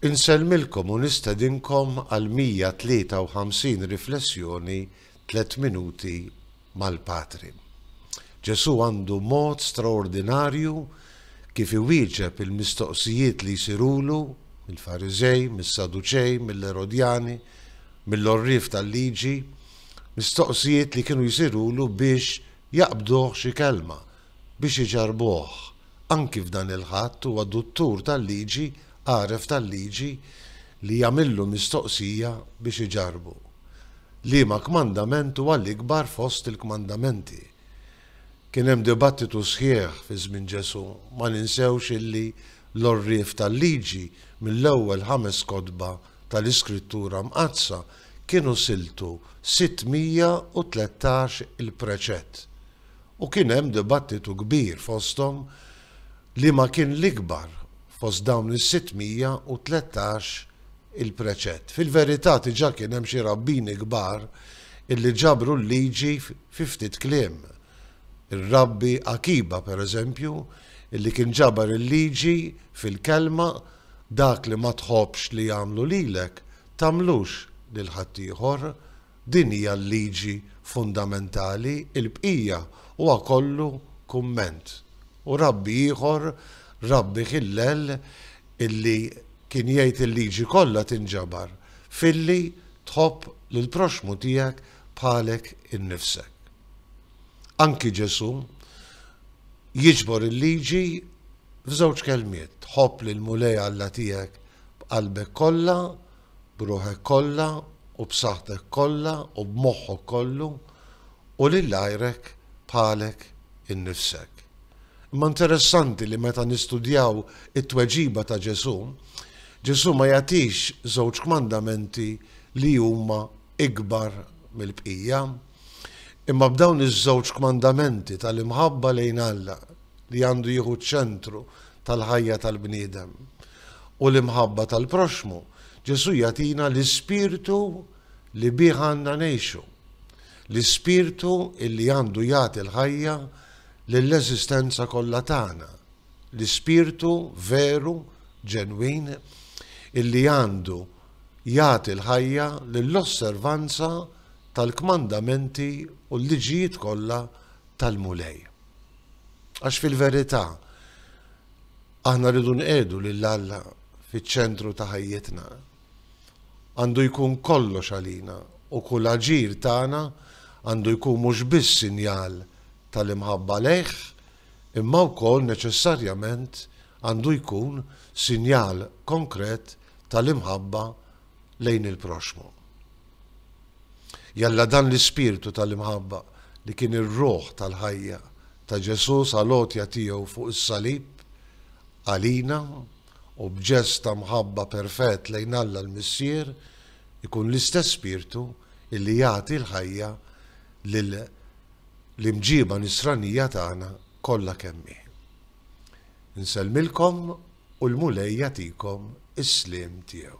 Insellmilkom u nistedinkom għal 153 riflessjoni Tliet Minuti mal-Patri. Ġesù għandu mod straordinarju kif iwieġeb il-mistoqsijiet li jsirulu mill-Fariżej, mis-Saduċej, mill-Erodjani, mill-għorrief tal-liġi, mistoqsijiet li kienu jsirulu biex jaqbduh xi kelma, biex iġarrbuh anki f'dan il-Ħadd huwa duttur tal-liġi għaref tal-liġi li jagħmillu mistoqsija biex iġarrbu, Liema kmandament huwa l-ikbar fost il-kmandamenti? Kien hemm dibattitu sħiħ fi żmien Ġesù, ma ninsewx illi l-għorrief tal-liġi mill-ewwel ħames kotba tal-Iskrittura Mqaddsa kienu siltu sitt mija u tlettax il-preċett. U kien hemm dibattitu kbir fosthom liema kien l-ikbar fost dawn is-613 il-preċett. Fil-verità diġà kien hemm xi rabbini kbar illi ġabru l-liġi fi ftit kliem. Ir-Rabbi Akiba, per eżempju, illi kien ġabar il-liġi fil-kelma dak li ma tħobbx li jagħmlu lilek, tagħmlux lil ħaddieħor, Din hija l-liġi fundamentali, il-bqija huwa kollu kumment. U rabbi ieħor, Rabbi Hillel, illi kien jgħid il-liġi kollha tinġabar filli tħobb lill-proxxmu tiegħek bħalek innifsek. Anki Ġesù jiġbor il-liġi f'żewġ kelmiet, ħobb lill-Mulej Alla tiegħek b'qalbek kollha b'ruħek kollha u b'saħħtek kollha u b'moħħok kollu u lil għajrek bħalek innifsek. Imma interessanti li meta nistudjaw it-tweġiba ta' Ġesù, Ġesù ma jagħtix żewġ kmandamenti li huma ikbar mill-bqija. Imma b'dawn iż-żewġ kmandamenti tal-imħabba lejn Alla li għandu jieħu ċ-ċentru tal-ħajja tal-bniedem u l-imħabba tal-proxxmu, Ġesù jagħtina l-ispirtu li bih għandna ngħixu. L-ispirtu illi għandu jagħti l-ħajja lill-eżistenza kollha tagħna. L-ispirtu veru, ġenwin, illi għandu jagħti l-ħajja lill-osservanza tal-kmandamenti u l-liġijiet kollha tal-Mulej. Għax fil-verità aħna rridu nqiegħdu lil Alla fiċ-ċentru ta' ħajjitna. Għandu jkun kollox għalina u kull aġir tagħna għandu jkun mhux biss sinjal tal-imħabba lejh, imma wkoll neċessarjament għandu jkun sinjal konkret tal-imħabba lejn il-proxxmu. Jalla dan l-ispirtu tal-imħabba li kien ir-ruħ tal-ħajja ta' Ġesù sal-għotja tiegħu fuq is-salib għalina u b'ġest ta' mħabba perfett lejn Alla l-Missier ikun l-istess spirtu illi jagħti l-ħajja lil l-imġiba nisranija tagħna kollha kemm hi. Insellmilkom u l-Mulej jagħtikom is-sliem tiegħu.